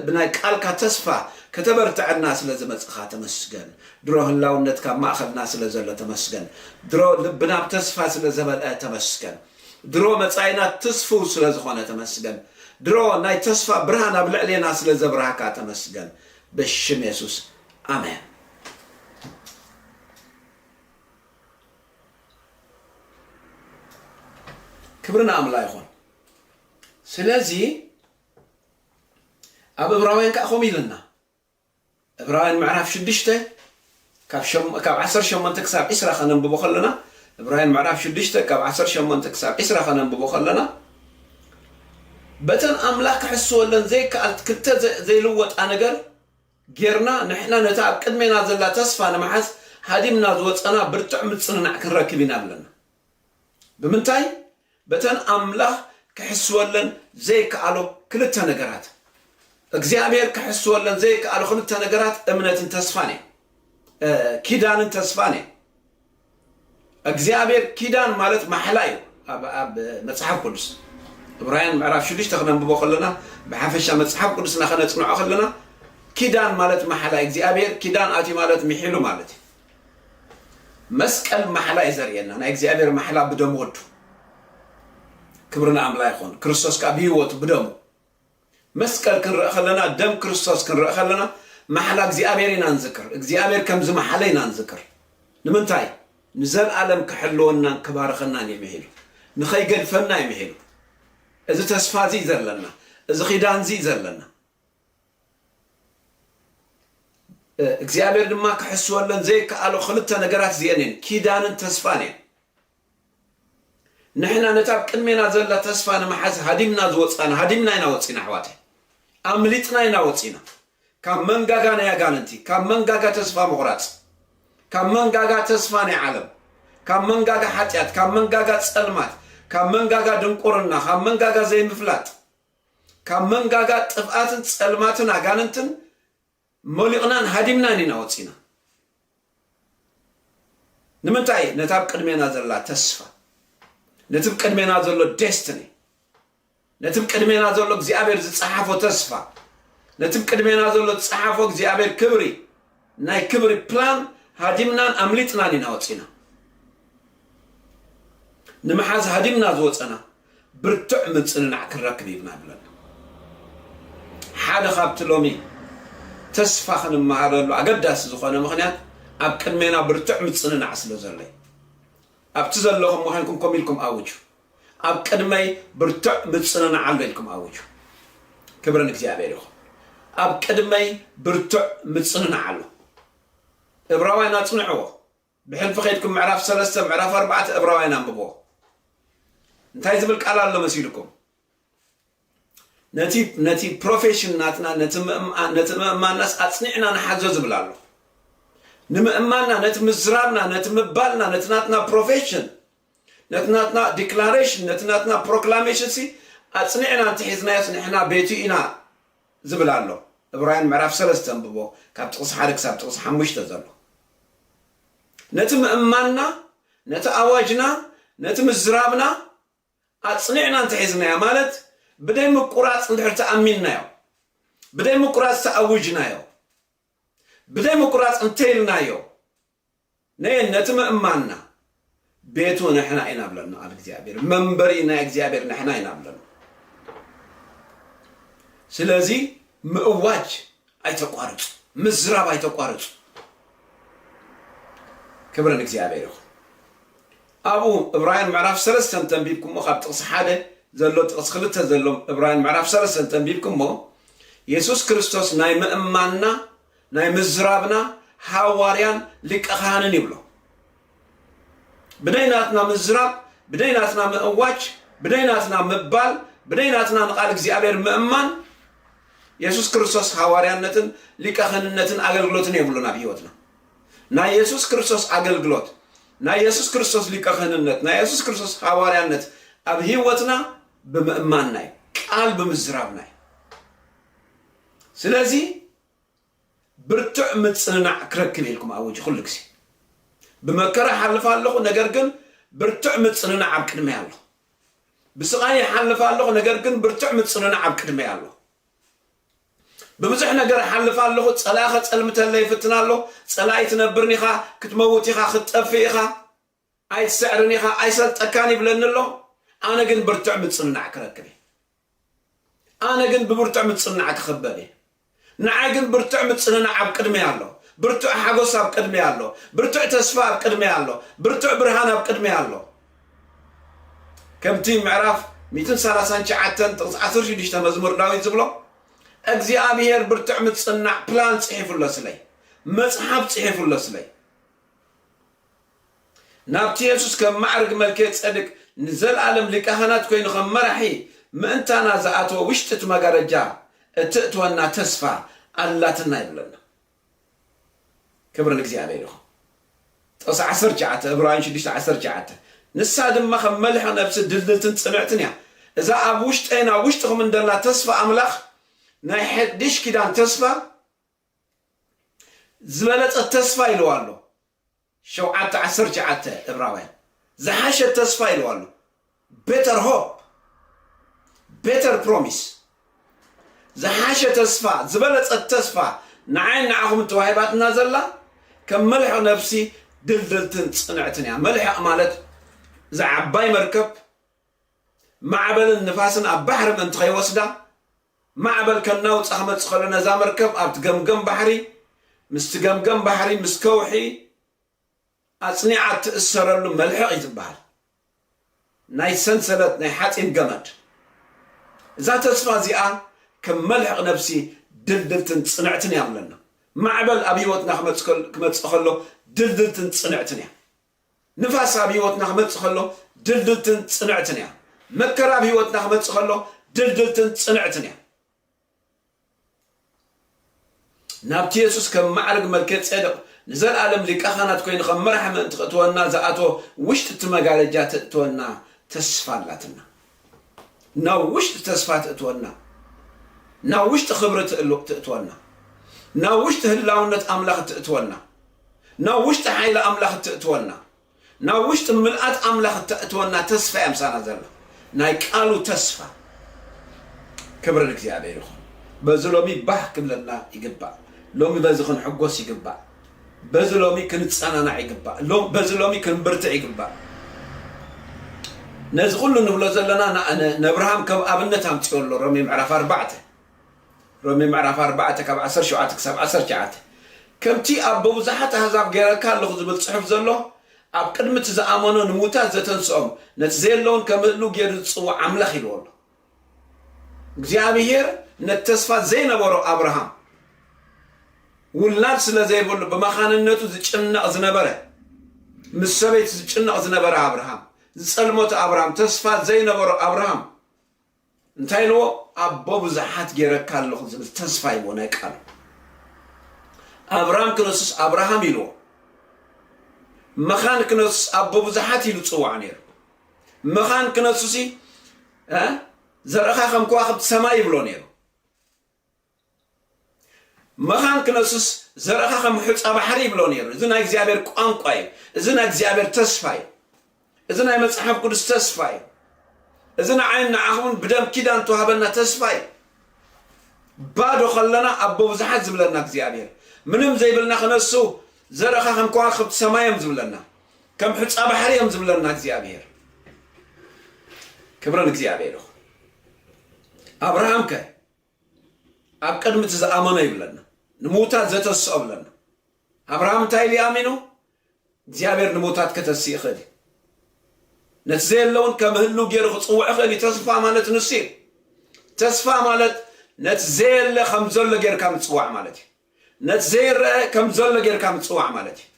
Speaker 2: ብናይ ቃልካ ተስፋ ከተበርተዐና ስለ ዝመጽኻ ተመስገን ድሮ ህላውነትካ ኣብ ማእኸልና ስለ ዘሎ ተመስገን ድሮ ልብና ብ ተስፋ ስለ ዘመልኣ ተመስገን ድሮ መጻኢና ትስፉው ስለ ዝኾነ ተመስገን ድሮ ናይ ተስፋ ብርሃን ኣብ ልዕሌና ስለ ዘብራህካ ተመስገን ብሽም የሱስ ኣሜን። ክብሪ ንኣምላ ይኹን። ስለዚ ኣብ እብራውያን ከኣ ከምኡ ኢለና እብራውያን ምዕራፍ ሽዱሽተ ካብ ዓሰርተ ሸሞንተ ክሳብ ዕስራ ከነንብቦ ከለና እብራውያን ምዕራፍ ሽዱሽተ ካብ ዓሰርተ ሸሞንተ ክሳብ ዕስራ ከነንብቦ ከለና በተን ኣምላኽ ክሕስወለን ዘይከኣል ክልተ ዘይልወጣ ነገር ጌርና ንሕና ነታ ኣብ ቅድሜና ዘላ ተስፋ ንምሓዝ ሃዲምና ዝወፀና ብርትዕ ምፅንናዕ ክንረክብ ኢና ኣለና ብምንታይ? በተን ኣምላኽ ኪሕስወለን ዘይከኣሎ ክልተ ነገራት። እግዚኣብሄር ኪሕስወለን ዘይከኣሎ ክልተ ነገራት እምነትን ተስፋን እዮም። ኪዳንን ተስፋን እዮም። እግዚኣብሄር ኪዳን ማለት ማሕላ እዩ ኣብ መጽሓፍ ቅዱስ እብራውያን ምዕራፍ ሽዱሽተ ክነንብቦ ከለና ብሓፈሻ መጽሓፍ ቅዱስና ከነጽንዖ ከለና ኪዳን ማለት ማሕላ እግዚኣብሄር ኪዳን ኣትዩ ማለት ምሒሉ ማለት እዩ መስቀል ማሕላ እዩ ዘርእየና ናይ እግዚኣብሔር ማሕላ ብደም ወዱ ክብሪ ንኣምላ ይኹን ክርስቶስ ከዓ ብህይወቱ ብደሙ መስቀል ክንርኢ ከለና ደም ክርስቶስ ክንርኢ ከለና ማሕላ እግዚኣብሔር ኢና ንዝክር እግዚኣብሔር ከም ዝመሓለ ኢና ንዝክር ንምንታይ ንዘለኣለም ክሕልወናን ክባርኸናን እዩ ምሒሉ ንኸይገድፈና እዩ ምሒሉ እዚ ተስፋ እዚ ዘለና እዚ ኺዳን እዚ ዘለና እግዚኣብሔር ድማ ክሕስወለን ዘይከኣሎ ክልተ ነገራት እዚኤን እየን፣ ኪዳንን ተስፋን እየን። ንሕና ነታ ኣብ ቅድሜና ዘላ ተስፋ ንምሓዝ ሃዲምና ዝወፃና ሃዲምና ኢና ወፂና ኣሕዋተይ፣ ኣምሊጥና ኢና ወፂና ካብ መንጋጋ ናይ ኣጋንንቲ፣ ካብ መንጋጋ ተስፋ ምቑራፅ፣ ካብ መንጋጋ ተስፋ ናይ ዓለም፣ ካብ መንጋጋ ሓጢኣት፣ ካብ መንጋጋ ፀልማት፣ ካብ መንጋጋ ድንቁርና፣ ካብ መንጋጋ ዘይምፍላጥ ካብ መንጋጋ ጥፍኣትን ጸልማትን ኣጋንንትን ሞሊቕናን ሃዲምናን ኢና ወጺና። ንምንታይ ነታ ኣብ ቅድሜና ዘላ ተስፋ ነቲ ብ ቅድሜና ዘሎ ዴስትኒ ነቲ ብ ቅድሜና ዘሎ እግዚኣብሔር ዝጸሓፎ ተስፋ ነቲ ብ ቅድሜና ዘሎ ዝጸሓፎ እግዚኣብሔር ክብሪ ናይ ክብሪ ፕላን ሃዲምናን ኣምሊጥናን ኢና ወጺና። ንምሓዝ ሃዲምና ዝወጸና ብርቱዕ ምጽንናዕ ክንረክብ ኢብና ብለና። ሓደ ካብቲ ሎሚ ተስፋ ክንመሃረሉ ኣገዳሲ ዝኾነ ምኽንያት ኣብ ቅድሜና ብርቱዕ ምጽንናዕ ስለ ዘሎ እዩ። ኣብቲ ዘለኹም ኮይንኩም ኮም ኢልኩም ኣውጁ። ኣብ ቅድመይ ብርቱዕ ምጽንናዕ ኣሎ ኢልኩም ኣውጁ። ክብሪ ንእግዚኣብሔር ይኹን። ኣብ ቅድመይ ብርቱዕ ምጽንናዕ ኣሎ። እብራውያን ኣጽንዕዎ። ብሕልፊ ከይድኩም ምዕራፍ ሰለስተ ምዕራፍ ኣርባዕተ እብራውያን ኣንብብዎ። እንታይ ዝብል ቃል ኣሎ መሲልኩም? ነቲ ነቲ ፕሮፌሽን ናትና ነቲ ምእማ- ነቲ ምእማናስ ኣጽኒዕና ንሓዞ ዝብል ኣሎ። ንምእማንና ነቲ ምዝራብና ነቲ ምባልና ነቲ ናትና ፕሮፌሽን ነቲ ናትና ዲክላሬሽን ነቲ ናትና ፕሮክላሜሽን ሲ ኣጽኒዕና እንተሒዝናዮስ ንሕና ቤቱ ኢና ዝብል ኣሎ እብራውያን ምዕራፍ ሰለስተ ኣንብቦ ካብ ጥቕሲ ሓደ ክሳብ ጥቕሲ ሓሙሽተ ዘሎ ነቲ ምእማንና ነቲ ኣዋጅና ነቲ ምዝራብና ኣጽኒዕና እንተሒዝናዮ ማለት ብደይ ምቁራጽ እንድሕር ተኣሚንናዮ ብደይ ምቁራጽ ተኣውጅናዮ ብደይ ምቁራጽ እንተይልናዮ ነየን ነቲ ምእማንና ቤቱ ንሕና ኢና ብለን ንቓል እግዚኣብሔር መንበሪ ናይ እግዚኣብሔር ንሕና ኢና ብለን ስለዚ ምእዋጅ ኣይተቋርፁ ምዝራብ ኣይተቋርፁ ክብረ ንእግዚኣብሔር ይኹን ኣብኡ እብራውያን ምዕራፍ ሰለስተ እንተንቢብኩሞ ካብ ጥቕሲ ሓደ ዘሎ ጥቕሲ ክልተ ዘሎም እብራውያን ምዕራፍ ሰለስተ እንተንቢብኩሞ የሱስ ክርስቶስ ናይ ምእማንና ናይ ምዝራብና ሓዋርያን ሊቀ ካህንን ይብሎ። ብነይናትና ምዝራብ፣ ብነይናትና ምእዋጅ፣ ብነይናትና ምባል፣ ብነይናትና ንቃል እግዚኣብሔር ምእማን የሱስ ክርስቶስ ሓዋርያነትን ሊቀ ክህንነትን ኣገልግሎትን የብሉን ኣብ ህይወትና። ናይ የሱስ ክርስቶስ ኣገልግሎት፣ ናይ የሱስ ክርስቶስ ሊቀ ክህንነት፣ ናይ የሱስ ክርስቶስ ሓዋርያነት ኣብ ህይወትና ብምእማንና እዩ፣ ቃል ብምዝራብና እዩ። ስለዚ ብርቱዕ ምጽንናዕ ክረክብ እየ ኢልኩም ኣውጁ ኩሉ ግዜ ብመከራ ሓልፍ ኣለኹ ነገር ግን ብርቱዕ ምጽንናዕ ኣብ ቅድመይ ኣሎ ብስቓይ ይሓልፍ ኣለኹ ነገር ግን ብርቱዕ ምጽንናዕ ኣብ ቅድመይ ኣሎ ብብዙሕ ነገር ሓልፍ ኣለኹ ጸላኸ ጸልምተለ ይፍትን ኣሎ ጸላኢ ትነብርኒ ኢኻ ክትመውት ኢኻ ክትጠፍእ ኢኻ ኣይትስዕርን ኢኻ ኣይሰልጠካን ይብለኒ ኣሎ ኣነ ግን ብርትዕ ምጽንናዕ ክረክብ እየ ኣነ ግን ብብርትዕ ምጽንናዕ ክኽበብ እየ ንዓይ ግን ብርትዕ ምጽንናዕ ኣብ ቅድመይ ኣሎ ብርትዕ ሓጎስ ኣብ ቅድመይ ኣሎ ብርትዕ ተስፋ ኣብ ቅድመይ ኣሎ ብርትዕ ብርሃን ኣብ ቅድመይ ኣሎ ከምቲ ምዕራፍ 139 ጥቕስ 16 መዝሙር ዳዊት ዝብሎ እግዚኣብሄር ብርትዕ ምጽናዕ ፕላን ጽሒፉ ኣሎ ስለይ መጽሓፍ ጽሒፉ ኣሎ ስለይ ናብቲ የሱስ ከም ማዕርግ መልክየ ጸድቅ ንዘልኣለም ሊቀ ኻህናት ኰይኑ ኸም መራሒ ምእንታና ዝኣተወ ውሽጢ እቲ መጋረጃ እተእትወና ተስፋ ኣላትና ይብለና። ክብሪ ንእግዚኣብሔር ይኹን። ጥቕሲ ዓሰርተ ትሽዓተ እብራውያን ሽዱሽተ ዓሰርተ ትሽዓተ ንሳ ድማ ከም መልሕቕ ነብሲ ድልድልትን ጽንዕትን እያ። እዛ ኣብ ውሽጠይን ኣብ ውሽጥኹምን ደላ ተስፋ ኣምላኽ ናይ ሐድሽ ኪዳን ተስፋ ዝበለጸት ተስፋ ኢልዋ ኣሎ ሸውዓተ ዓሰርተ ትሽዓተ እብራውያን ዝሓሸት ተስፋ ኢልዋ ኣሎ better hope better promise ዝሓሸ ተስፋ ዝበለጸት ተስፋ ንዓይን ንዓኹምን ተዋሂባትና ዘላ ከም መልሕቕ ነብሲ ድልድልትን ጽንዕትን እያ መልሕቕ ማለት እዛ ዓባይ መርከብ ማዕበልን ንፋስን ኣብ ባሕሪ ምእንቲ ከይወስዳ ማዕበል ከናውጻ ክመጽእ ከሎ ነዛ መርከብ ኣብቲ ገምገም ባሕሪ ምስቲ ገምገም ባሕሪ ምስ ከውሒ ኣጽኒዓ እትእሰረሉ መልሕቕ እዩ ዝበሃል ናይ ሰንሰለት ናይ ሓጺን ገመድ እዛ ተስፋ እዚኣ ከም መልሕቕ ነብሲ ድልድልትን ጽንዕትን እያ ብለና። ማዕበል ኣብ ህይወትና ክመጽእ ከሎ ድልድልትን ጽንዕትን እያ። ንፋስ ኣብ ህይወትና ክመጽእ ከሎ ድልድልትን ጽንዕትን እያ። መከራ ኣብ ህይወትና ክመጽእ ከሎ ድልድልትን ጽንዕትን እያ። ናብቲ የሱስ ከም ማዕርግ መልከ ጼደቕ ንዘለኣለም ሊቀ ካህናት ኮይኑ ከም መራሒ ምእንቲ ክእትወና ዝኣተወ ውሽጢ እቲ መጋረጃ ተእትወና ተስፋ ኣላትና። ናብ ውሽጢ ተስፋ ትእትወና፣ ናብ ውሽጢ ክብሪ ትእሉ- ትእትወና፣ ናብ ውሽጢ ህላውነት ኣምላኽ ትእትወና። ናብ ውሽጢ ሓይሊ ኣምላኽ እተእትወና ናብ ውሽጢ ምልኣት ኣምላኽ እተእትወና ተስፋ እያ ምሳና ዘላ ናይ ቃሉ ተስፋ ክብሪ ንእግዚኣብሔር ይኹን በዚ ሎሚ ባህ ክብለና ይግባእ ሎሚ በዚ ክንሕጎስ ይግባእ በዚ ሎሚ ክንጸናናዕ ይግባእ በዚ ሎሚ ክንብርትዕ ይግባእ ነዚ ኩሉ ንብሎ ዘለና ንኣብርሃም ከም ኣብነት ኣምጽኦ ኣሎ ሮሜ ምዕራፍ ኣርባዕተ ሮሜ ምዕራፍ ኣርባዕተ ካብ ዓሰርተ ሸውዓተ ክሳብ ዓሰርተ ትሽዓተ ከምቲ ኣብ በብዙሓት ኣህዛብ ገይረካ ኣለኹ ዝብል ጽሑፍ ዘሎ ኣብ ቅድሚ እቲ ዝኣመኖ ንምዉታት ዘተንስኦም ነቲ ዘየለውን ከምህሉ ገይሩ ዝጽውዕ ኣምላኽ ኢልዎ ኣሎ እግዚኣብሄር ነቲ ተስፋ ዘይነበሮ ኣብርሃም ውላድ ስለ ዘይብሉ ብመኻንነቱ ዝጭነቕ ዝነበረ ምስ ሰበይቲ ዝጭነቕ ዝነበረ ኣብርሃም ዝጸልመቱ ኣብርሃም ተስፋ ዘይነበሮ ኣብርሃም እንታይ ኢልዎ ኣቦ ብዙሓት ጌረካ ኣለኹ ዝብል ተስፋ ኢልዎ ናይ ቃሉ ኣብራም ክነሱስ ኣብርሃም ኢልዎ መኻን ክነሱስ ኣቦ ብዙሓት ኢሉ ጽዋዕ ነይሩ መኻን ክነሱሲ ዘርእኻ ከም ከዋኽብቲ ሰማይ ይብሎ ነይሩ መኻን ክነሱስ ዘርእኻ ከም ሑጻ ባሕሪ ይብሎ ነይሩ። እዚ ናይ እግዚኣብሔር ቋንቋ እዩ። እዚ ናይ እግዚኣብሔር ተስፋ እዩ። እዚ ናይ መጽሓፍ ቅዱስ ተስፋ እዩ። እዚ ንዓይን ንዓኹምን ብደም ኪዳን ተዋህበና ተስፋ እዩ። ባዶ ከለና ኣቦ ብዙሓት ዝብለና እግዚኣብሔር ምንም ዘይብልና ክነሱ ዘርእኻ ከም ከዋክብቲ ሰማይ እዮም ዝብለና ከም ሑጻ ባሕሪ እዮም ዝብለና እግዚኣብሔር ክብረን እግዚኣብሔር ይኹን ኣብርሃም ከ ኣብ ቅድሚ እቲ ዝኣመኖ ይብለና ንምውታት ዘተስኦ ብለና ኣብርሃም እንታይ ኢሉ ኣሚኑ እግዚኣብሔር ንምውታት ከተሲ ይኽእል እዩ ነቲ ዘየለውን ከም ህሉ ገይሩ ክፅውዕ ይኽእል እዩ ተስፋ ማለት ንሱ እዩ ተስፋ ማለት ነቲ ዘየለ ከም ዘሎ ጌርካ ምፅዋዕ ማለት እዩ ነቲ ዘይረአ ከም ዘሎ ጌርካ ምፅዋዕ ማለት እዩ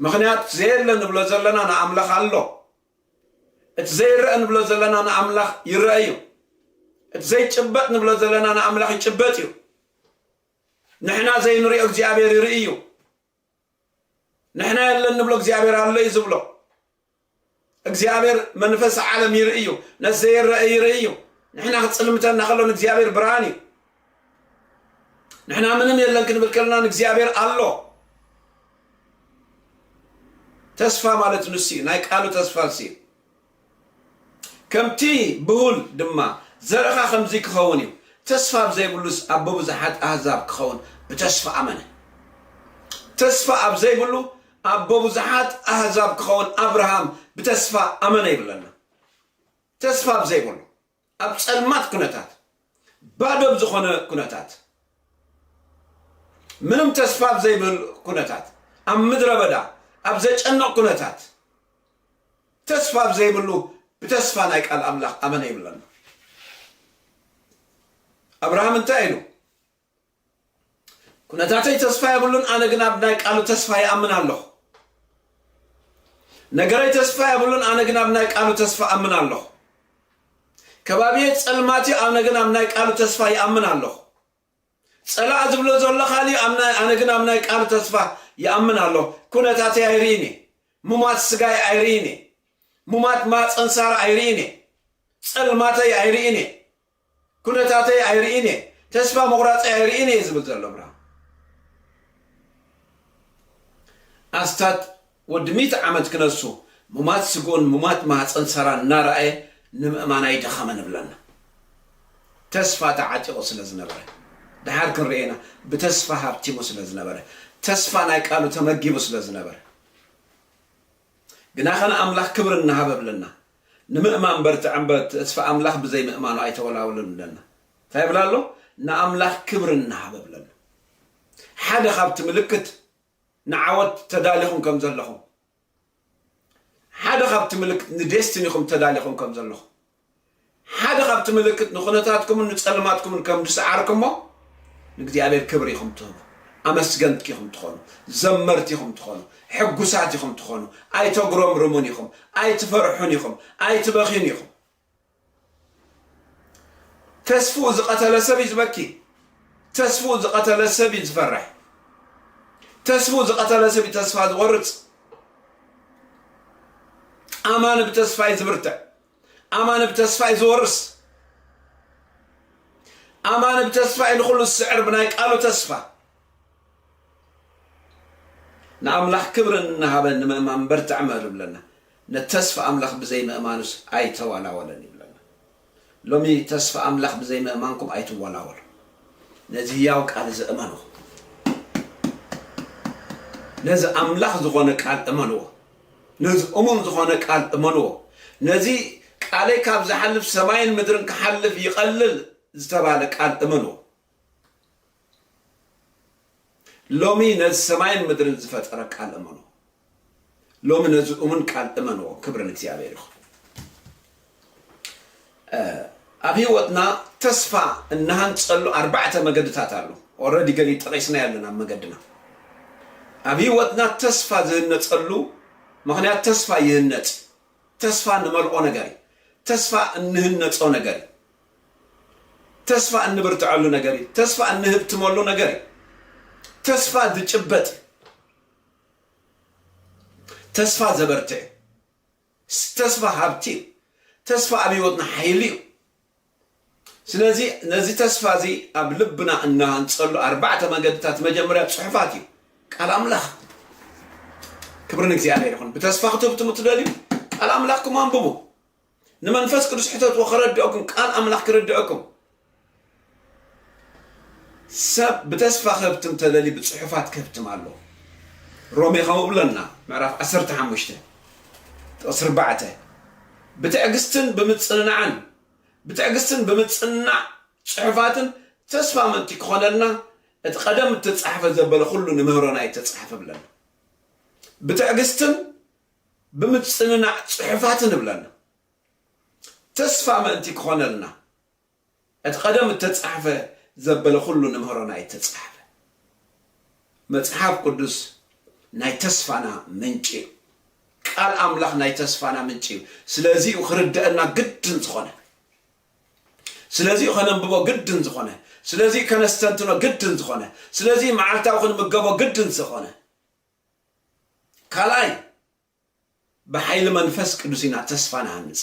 Speaker 2: ምክንያቱ ዘየለ ንብሎ ዘለና ንኣምላኽ ኣሎ እቲ ዘይረኣ ንብሎ ዘለና ንኣምላኽ ይረኣ እዩ። እቲ ዘይጭበጥ ንብሎ ዘለና ንኣምላኽ ይጭበጥ እዩ። ንሕና ዘይንሪኦ እግዚኣብሔር ይርኢ እዩ። ንሕና የለን ንብሎ እግዚኣብሔር ኣሎ እዩ ዝብሎ። እግዚኣብሔር መንፈስ ዓለም ይርኢ እዩ። ነቲ ዘይረአ ይርኢ እዩ። ንሕና ክጽልምተና ከሎ ንእግዚኣብሔር ብርሃን እዩ። ንሕና ምንም የለን ክንብል ከለና ንእግዚኣብሔር ኣሎ ተስፋ ማለት ንሱ እዩ ናይ ቃሉ ተስፋ ንሱ እዩ ከምቲ ብሁል ድማ ዘረኻ ከምዚ ክኸውን እዩ ተስፋ ብዘይብሉስ ኣብ ብብዙሓት ኣህዛብ ክኸውን ብተስፋ ኣመነ ተስፋ ኣብ ዘይብሉ ኣብ ብብዙሓት ኣህዛብ ክኸውን ኣብርሃም ብተስፋ ኣመነ ይብለና ተስፋ ብዘይብሉ ኣብ ጸልማት ኩነታት፣ ባዶ ኣብ ዝኾነ ኩነታት፣ ምንም ተስፋ ኣብ ዘይብህሉ ኩነታት፣ ኣብ ምድረ በዳ፣ ኣብ ዘጨንቕ ኩነታት፣ ተስፋ ኣብ ዘይብሉ ብተስፋ ናይ ቃል ኣምላኽ ኣመነ ይብለና። ኣብርሃም እንታይ ኢሉ? ኩነታተይ ተስፋ የብሉን ኣነ ግን ኣብ ናይ ቃሉ ተስፋ ይኣምን ኣለኹ ነገረይ ተስፋ የብሉን ኣነ ግን ኣብ ናይ ቃሉ ተስፋ ኣምን ኣለኹ ከባቢየ ጸልማት እዩ ኣነ ግን ኣብ ናይ ቃሉ ተስፋ ይኣምን ኣለኹ ጸላእ ዝብሎ ዘሎ ካሊእ ኣብ ናይ- ኣነ ግን ኣብ ናይ ቃሉ ተስፋ ይኣምን ኣለኹ ኩነታተይ ኣይርኢን እየ ሙማት ስጋይ ኣይርኢን እየ ሙማት ማፀንሳር ኣይርኢን እየ ጸልማተይ ኣይርኢን እየ ኩነታተይ ኣይርኢን እየ፣ ተስፋ ምቑራጸይ ኣይርኢን እየ ዝብል ዘሎ ብርሃኑ። ኣስታት ወዲ ሚእቲ ዓመት ክነሱ፣ ሙማት ስግኡን ሙማት ማህጸን ሳራን እናረኣየ ንምእማን ኣይደኸመ ንብለና። ተስፋ ተዓጢቑ ስለ ዝነበረ፣ ደሓር ክንርእዮ ኢና፣ ብተስፋ ሃብቲሙ ስለ ዝነበረ፣ ተስፋ ናይ ቃሉ ተመጊቡ ስለ ዝነበረ። ግናኸ ንኣምላኽ ክብሪ እናሃበ እብለና። ንምእማን በርትዕ እምበር ተስፋ ኣምላኽ ብዘይ ምእማኑ ኣይተወላወልን እብለና። እንታይ ይብል ኣሎ? ንኣምላኽ ክብሪ እንሃበ እብለና። ሓደ ካብቲ ምልክት ንዓወት ተዳሊኹም ከም ዘለኹም ሓደ ካብቲ ምልክት ንዴስቲኒኹም ተዳሊኹም ከም ዘለኹም ሓደ ካብቲ ምልክት ንኹነታትኩምን ንጸልማትኩምን ከም ዝሰዓርክሞ ንእግዚኣብሔር ክብሪ ኢኹም ትህቡ፣ ኣመስገንቲ ኢኹም ትኾኑ፣ ዘመርቲ ኢኹም ትኾኑ፣ ሕጉሳት ኢኹም ትኾኑ፣ ኣይተጉረምርሙን ኢኹም፣ ኣይትፈርሑን ኢኹም፣ ኣይትበኽዩን ኢኹም። ተስፍኡ ዝቐተለ ሰብ እዩ ዝበኪ ተስፍኡ ዝቐተለ ሰብ እዩ ዝፈርሕ ተስፍኡ ዝቐተለ ሰብ እዩ ተስፋ ዝቆርፅ ኣማኒ ብተስፋ እዩ ዝብርትዕ ኣማን ብ ተስፋ እዩ ዝወርስ ኣማን ብ ተስፋ እዩ ንኹሉ ዝስዕር ብናይ ቃሉ ተስፋ ንኣምላኽ ክብሪ እናሃበ ንምእማን በርትዕ እምበር ይብለና ንተስፋ ኣምላኽ ብዘይ ምእማኑስ ኣይተዋላወለን ይብለና ሎሚ ተስፋ ኣምላኽ ብዘይ ምእማንኩም ኣይትወላወሉ ነዚ ህያው ቃል እዚ እመኑ ነዚ ኣምላኽ ዝኾነ ቃል እመንዎ ነዚ እሙን ዝኾነ ቃል እመንዎ። ነዚ ቃለይ ካብ ዝሓልፍ ሰማይን ምድርን ክሓልፍ ይቐልል ዝተባህለ ቃል እመንዎ። ሎሚ ነዚ ሰማይን ምድርን ዝፈጠረ ቃል እመንዎ። ሎሚ ነዚ እሙን ቃል እመንዎ። ክብሪ ንእግዚኣብሔር ይኹን። ኣብ ሂወትና ተስፋ እንሃንጸሉ ኣርባዕተ መገድታት ኣሎ ኦረዲ ገሊ ጠቂስናዮ ኣለና ኣብ መገድና ኣብ ሂወትና ተስፋ ዝህነጸሉ ምክንያት ተስፋ ይህነጽ ተስፋ ንመልኦ ነገር እዩ ተስፋ እንህነጾ ነገር እዩ ተስፋ እንብርትዐሉ ነገር እዩ ተስፋ እንህብትመሉ ነገር እዩ ተስፋ ዝጭበጥ እዩ ተስፋ ዘበርትዕ እዩ ተስፋ ሃብቲ እዩ። ተስፋ ኣብ ህይወትና ሓይሊ እዩ። ስለዚ ነዚ ተስፋ እዚ ኣብ ልብና እንሃንጸሉ ኣርባዕተ መገድታት መጀመርያ ጽሑፋት እዩ። ቃል ኣምላኽ ክብሪ ንእግዚኣብሔር ይኹን። ብተስፋ ክትህብትሙ ትደልዩ ቃል ኣምላኽኩም ኣንብቡ። ንመንፈስ ቅዱስ ሕተትዎ ከረድኦኩም ቃል ኣምላኽ ክርድኦኩም ሰብ ብተስፋ ከብትም ተለሊ ብጽሑፋት ከብትም ኣሎ ሮሜ ከምኡ ብለና ምዕራፍ ዓሰርተ ሓሙሽተ ጥቕሲ ኣርባዕተ ብትዕግስትን ብምጽንናዕን ብትዕግስትን ብምጽናዕ ጽሑፋትን ተስፋ ምእንቲ ክኾነልና እቲ ቀደም እተጻሕፈ ዘበለ ኩሉ ንምህሮና እተጻሕፈ ብለና ብትዕግስትን ብምጽንናዕ ጽሑፋትን ብለና ተስፋ ምእንቲ ክኾነልና እቲ ቀደም እተጻሕፈ ዘበለ ዅሉ ንምህሮና እተጻሕፈ መጽሓፍ ቅዱስ ናይ ተስፋና ምንጪ እዩ። ቃል ኣምላኽ ናይ ተስፋና ምንጪ እዩ። ስለዚ እዩ ክርደአና ግድን ዝኾነ። ስለዚ እዩ ከነንብቦ ግድን ዝኾነ። ስለዚ እዩ ከነስተንትኖ ግድን ዝኾነ። ስለዚ እዩ መዓልታዊ ክንምገቦ ግድን ዝኾነ። ካልኣይ ብሓይሊ መንፈስ ቅዱስ ኢና ተስፋ ንሃንጽ።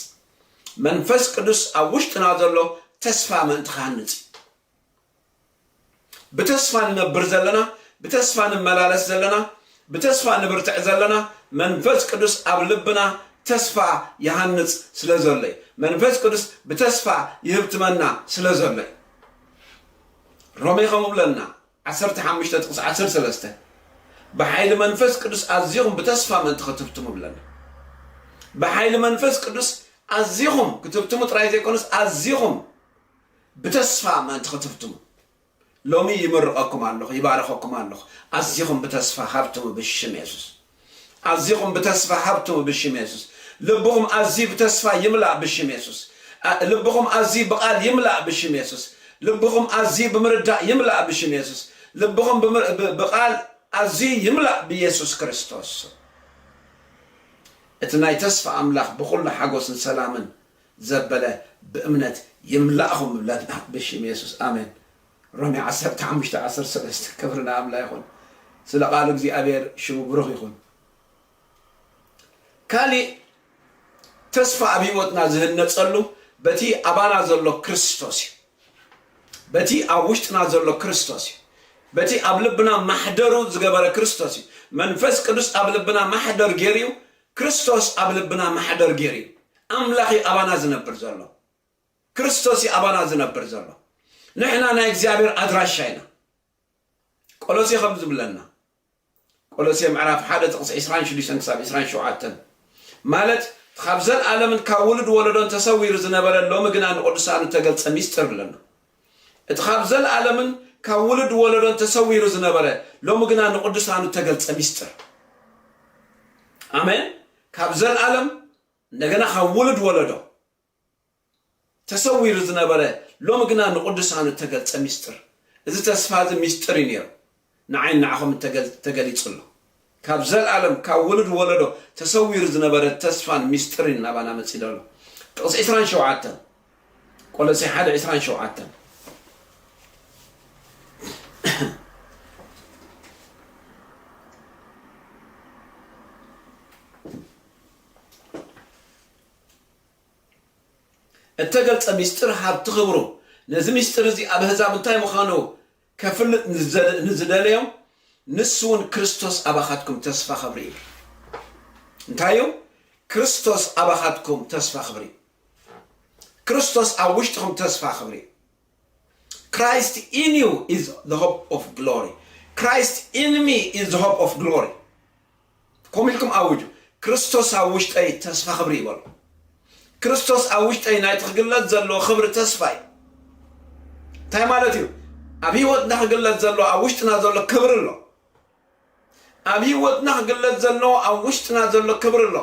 Speaker 2: መንፈስ ቅዱስ ኣብ ውሽጥና ዘሎ ተስፋ ምእንቲ ክሃንጽ እዩ። ብተስፋ ንነብር ዘለና፣ ብተስፋ ንመላለስ ዘለና፣ ብተስፋ ንብርትዕ ዘለና መንፈስ ቅዱስ ኣብ ልብና ተስፋ ይሃንጽ ስለ ዘሎ እዩ። መንፈስ ቅዱስ ብተስፋ ይህብትመና ስለ ዘሎ እዩ። ሮሜ ከምኡ ብለና ዓሰርተ ሓሙሽተ ጥቕሲ ዓሰርተ ሰለስተ ብሓይሊ መንፈስ ቅዱስ ኣዚኹም ብተስፋ ምእንቲ ክትብትሙ ይብለና። ብሓይሊ መንፈስ ቅዱስ ኣዚኹም ክትብትሙ ጥራይ ዘይኮነስ ኣዚኹም ብተስፋ ምእንቲ ክትብትሙ ሎሚ ይምርቐኩም ኣለኹ፣ ይባረኸኩም ኣለኹ። ኣዚኹም ብተስፋ ሃብትሙ ብሽም የሱስ። ኣዚኹም ብተስፋ ሃብትሙ ብሽም የሱስ ልብኹም ኣዝዩ ብተስፋ ይምላእ ብሽም የሱስ ልብኹም ኣዝዩ ብቃል ይምላእ ብሽም የሱስ ልብኹም ኣዝዩ ብምርዳእ ይምላእ ብሽም የሱስ ልብኹም ብቃል ኣዝዩ ይምላእ ብየሱስ ክርስቶስ ስም እቲ ናይ ተስፋ ኣምላኽ ብኹሉ ሓጎስን ሰላምን ዘበለ ብእምነት ይምላእኹም ብለና ብሽም የሱስ ኣሜን ሮሜ ዓሰርተ ሓሙሽተ ዓሰርተ ሰለስተ ክብሪ ንኣምላ ይኹን ስለ ቃሉ እግዚኣብሔር ሽሙ ብሩኽ ይኹን ካሊእ ተስፋ ኣብ ህይወትና ዝህነጸሉ በቲ ኣባና ዘሎ ክርስቶስ እዩ በቲ ኣብ ውሽጥና ዘሎ ክርስቶስ እዩ በቲ ኣብ ልብና ማሕደሩ ዝገበረ ክርስቶስ እዩ መንፈስ ቅዱስ ኣብ ልብና ማሕደር ገይሩ እዩ ክርስቶስ ኣብ ልብና ማሕደር ገይሩ እዩ ኣምላኽ እዩ ኣባና ዝነብር ዘሎ ክርስቶስ እዩ ኣባና ዝነብር ዘሎ። ንሕና ናይ እግዚኣብሔር ኣድራሻ ኢና። ቆሎሴ ከም ዝብለና ቆሎሴ ምዕራፍ ሓደ ጥቕሲ ዕስራን ሽዱሽተን ክሳብ ዕስራን ሸውዓተን ማለት ካብ ዘለኣለምን ካብ ውሉድ ወለዶን ተሰዊሩ ዝነበረ ሎሚ ግና ንቅዱሳኑ እተገልጸ ሚስጥር ብለና እቲ ካብ ዘለኣለምን ካብ ውሉድ ወለዶን ተሰዊሩ ዝነበረ ሎሚ ግና ንቅዱሳኑ እተገልጸ ሚስጥር ኣሜን ካብ ዘለኣለም እንደገና ካብ ውሉድ ወለዶ ተሰዊሩ ዝነበረ ሎሚ ግና ንቕዱሳኑ እተገልጸ ምስጢር። እዚ ተስፋ እዚ ምስጢር እዩ ነይሩ፣ ንዓይን ንዓኹምን ተገሊጹ ኣሎ። ካብ ዘለኣለም ካብ ውሉድ ወለዶ ተሰዊሩ ዝነበረ ተስፋን ምስጢርን ናባና መጺዶ ኣሎ። ጥቕሲ ዕስራን ሸውዓተን፣ ቆሎሴ ሓደ ዕስራን ሸውዓተን። እተገልጸ ምስጢር ሃብቲ ኽብሩ። ነዚ ምስጢር እዚ ኣብ ኣህዛብ እንታይ ምዃኑ ከፍልጥ ንዝደለዮም ንሱውን ክርስቶስ ኣባኻትኩም ተስፋ ኽብሪ እዩ። እንታይ እዩ? ክርስቶስ ኣባኻትኩም ተስፋ ኽብሪ እዩ። ክርስቶስ ኣብ ውሽጥኹም ተስፋ ኽብሪ እዩ። Christ in you is the hope of glory Christ in me is the hope of glory ከምኡ ኢልኩም ኣውጁ ክርስቶስ ኣብ ውሽጠይ ተስፋ ክብሪ እዩ በሉ ክርስቶስ ኣብ ውሽጠይ ናይቲ ክግለጽ ዘለዎ ክብሪ ተስፋ እዩ እንታይ ማለት እዩ ኣብ ህይወትና ክግለጽ ዘሎ ኣብ ውሽጥና ዘሎ ክብሪ ኣሎ ኣብ ህይወትና ክግለጽ ዘሎ ኣብ ውሽጥና ዘሎ ክብሪ ኣሎ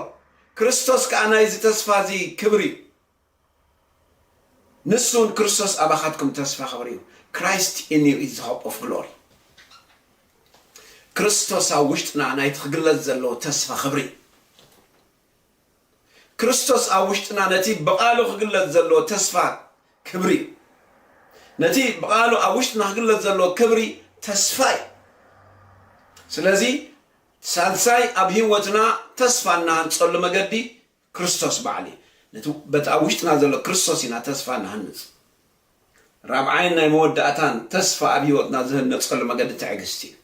Speaker 2: ክርስቶስ ከዓ ናይዚ ተስፋ እዚ ክብሪ እዩ ንሱ እውን ክርስቶስ ኣባኻትኩም ተስፋ ኽብሪ እዩ፣ Christ in you is the hope of glory። ክርስቶስ ኣብ ውሽጥና ናይቲ ክግለጽ ዘለዎ ተስፋ ኽብሪ። ክርስቶስ ኣብ ውሽጥና ነቲ ብቓሉ ክግለጽ ዘለዎ ተስፋ ክብሪ እዩ። ነቲ ብቓሉ ኣብ ውሽጥና ክግለጽ ዘለዎ ክብሪ ተስፋ እዩ። ስለዚ ሳልሳይ ኣብ ህይወትና ተስፋ እናሃንጸሉ መገዲ ክርስቶስ ባዕሊ ነቲ በቲ ኣብ ውሽጥና ዘሎ ክርስቶስ ኢና ተስፋ ንሃንጽ። ራብዓይን ናይ መወዳእታን ተስፋ ኣብ ህይወትና ዝህነጸሉ መገዲ ትዕግስቲ እዩ።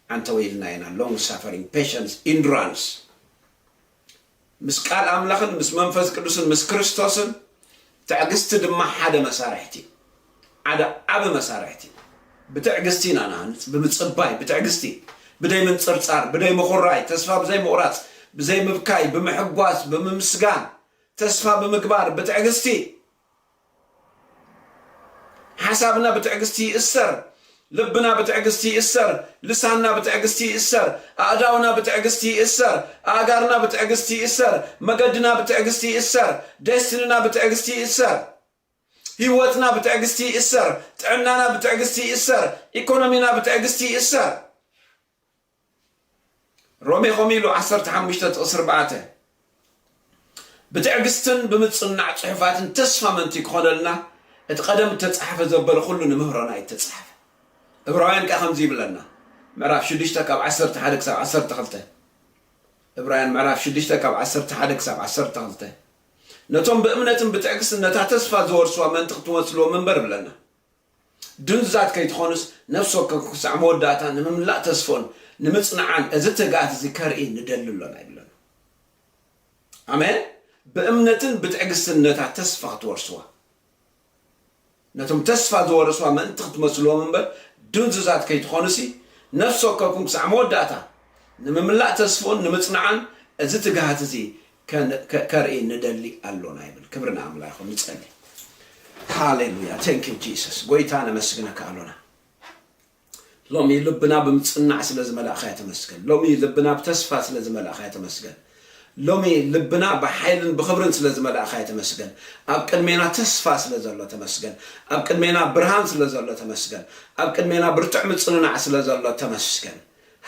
Speaker 2: ዓንተወ ኢልና ኢና long suffering patience endurance ምስ ቃል ኣምላኽን ምስ መንፈስ ቅዱስን ምስ ክርስቶስን ትዕግስቲ ድማ ሓደ መሳርሕቲ እዩ። ሓደ ዓቢ መሳርሕቲ እዩ። ብትዕግስቲ ኢና ንሃንጽ፣ ብምጽባይ፣ ብትዕግስቲ፣ ብደይ ምንጽርጻር፣ ብደይ ምኹራይ፣ ተስፋ ብዘይ ምቑራጽ፣ ብዘይ ምብካይ፣ ብምሕጓስ፣ ብምምስጋን፣ ተስፋ ብምግባር፣ ብትዕግስቲ። ሓሳብና ብትዕግስቲ ይእሰር፣ ልብና ብትዕግስቲ ይእሰር፣ ልሳንና ብትዕግስቲ ይእሰር፣ ኣእዳውና ብትዕግስቲ ይእሰር፣ ኣእጋርና ብትዕግስቲ ይእሰር፣ መገድና ብትዕግስቲ ይእሰር፣ ደስትንና ብትዕግስቲ ይእሰር። ሂወትና ብትዕግስቲ ይእሰር ጥዕናና ብትዕግስቲ ይእሰር ኢኮኖሚና ብትዕግስቲ ይእሰር ሮሜ ከምኡ ኢሉ ዓሰርተ ሓሙሽተ ጥቕሲ ኣርባዕተ ብትዕግስትን ብምጽናዕ ጽሑፋትን ተስፋ መንትይ ክኾነልና እቲ ቀደም እተጻሓፈ ዘበለ ኩሉ ንምህሮና እዩ እተጻሓፈ እብራውያን ከኣ ከምዚ ይብለና ምዕራፍ ሽዱሽተ ካብ ዓሰርተ ሓደ ክሳብ ዓሰርተ ክልተ እብራውያን ምዕራፍ ሽዱሽተ ካብ ዓሰርተ ሓደ ክሳብ ዓሰርተ ክልተ ነቶም ብእምነትን ብትዕግስትን ነታ ተስፋ ዝወርሱ ኣመንቲ ክትመስልዎም እምበር እብለና። ድንዙዛት ከይትኾኑስ ነፍሲ ወከፍኩም ክሳዕ መወዳእታ ንምምላእ ተስፎን ንምጽንዓን እዚ ትግኣት እዚ ከርኢ ንደሊ ኣሎና ይብለና። ኣሜን። ብእምነትን ብትዕግስትን ነታ ተስፋ ክትወርስዋ። ነቶም ተስፋ ዝወረስዋ ምእንቲ ክትመስልዎም እምበር ድንዙዛት ከይትኾኑሲ ነፍሲ ወከፍኩም ክሳዕ መወዳእታ ንምምላእ ተስፍኡን ንምጽናዕን እዚ ትግሃት እዚ ከርኢ ንደሊ ኣሎና ይብል ክብሪ ንኣምላ ይኹን ንጸሊ ሃሌሉያ ቴንክ ዩ ጂሰስ ጎይታ ነመስግነካ ኣሎና ሎሚ ልብና ብምጽናዕ ስለ ዝመላእኻያ ተመስገን። ሎሚ ልብና ብተስፋ ስለ ዝመላእኻያ ተመስገን። ሎሚ ልብና ብሓይልን ብኽብርን ስለ ዝመላእኻያ ተመስገን። ኣብ ቅድሜና ተስፋ ስለ ዘሎ ተመስገን። ኣብ ቅድሜና ብርሃን ስለ ዘሎ ተመስገን። ኣብ ቅድሜና ብርቱዕ ምጽንናዕ ስለ ዘሎ ተመስገን።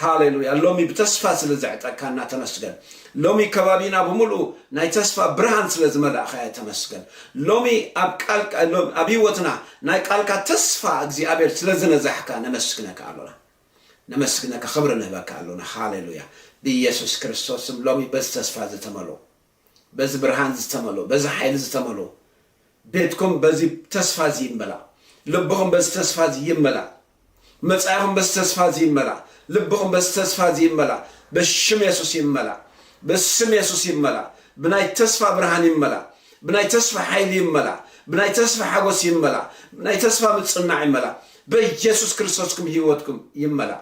Speaker 2: ሃሌሉያ ሎሚ ብተስፋ ስለ ዘዕጠካና ተመስገን ሎሚ ከባቢና ብምልኡ ናይ ተስፋ ብርሃን ስለ ዝመላእካዮ ተመስገን ሎሚ ኣብ ቃልካ ሎሚ ኣብ ህይወትና ናይ ቃልካ ተስፋ እግዚኣብሔር ስለ ዝነዛሕካ ነመስግነካ ኣሎና ነመስግነካ ክብሪ ንህበካ ኣሎና ሃሌሉያ ብኢየሱስ ክርስቶስ ስም ሎሚ በዚ ተስፋ ዝተመልኡ በዚ ብርሃን ዝተመልኦ፣ በዚ ሓይሊ ዝተመልኦ ቤትኩም በዚ ተስፋ እዚ ይመላእ። ልብኹም በዚ ተስፋ እዚ ይመላእ። መጻኢኹም በዚ ተስፋ እዚ ይመላእ። ልብኹም በዚ ተስፋ እዚ ይመላእ። በሽም የሱስ ይመላእ። በስም የሱስ ይመላእ። ብናይ ተስፋ ብርሃን ይመላእ። ብናይ ተስፋ ሓይሊ ይመላእ። ብናይ ተስፋ ሓጎስ ይመላእ። ብናይ ተስፋ ምጽናዕ ይመላእ። በየሱስ ክርስቶስኩም ህይወትኩም ይመላእ።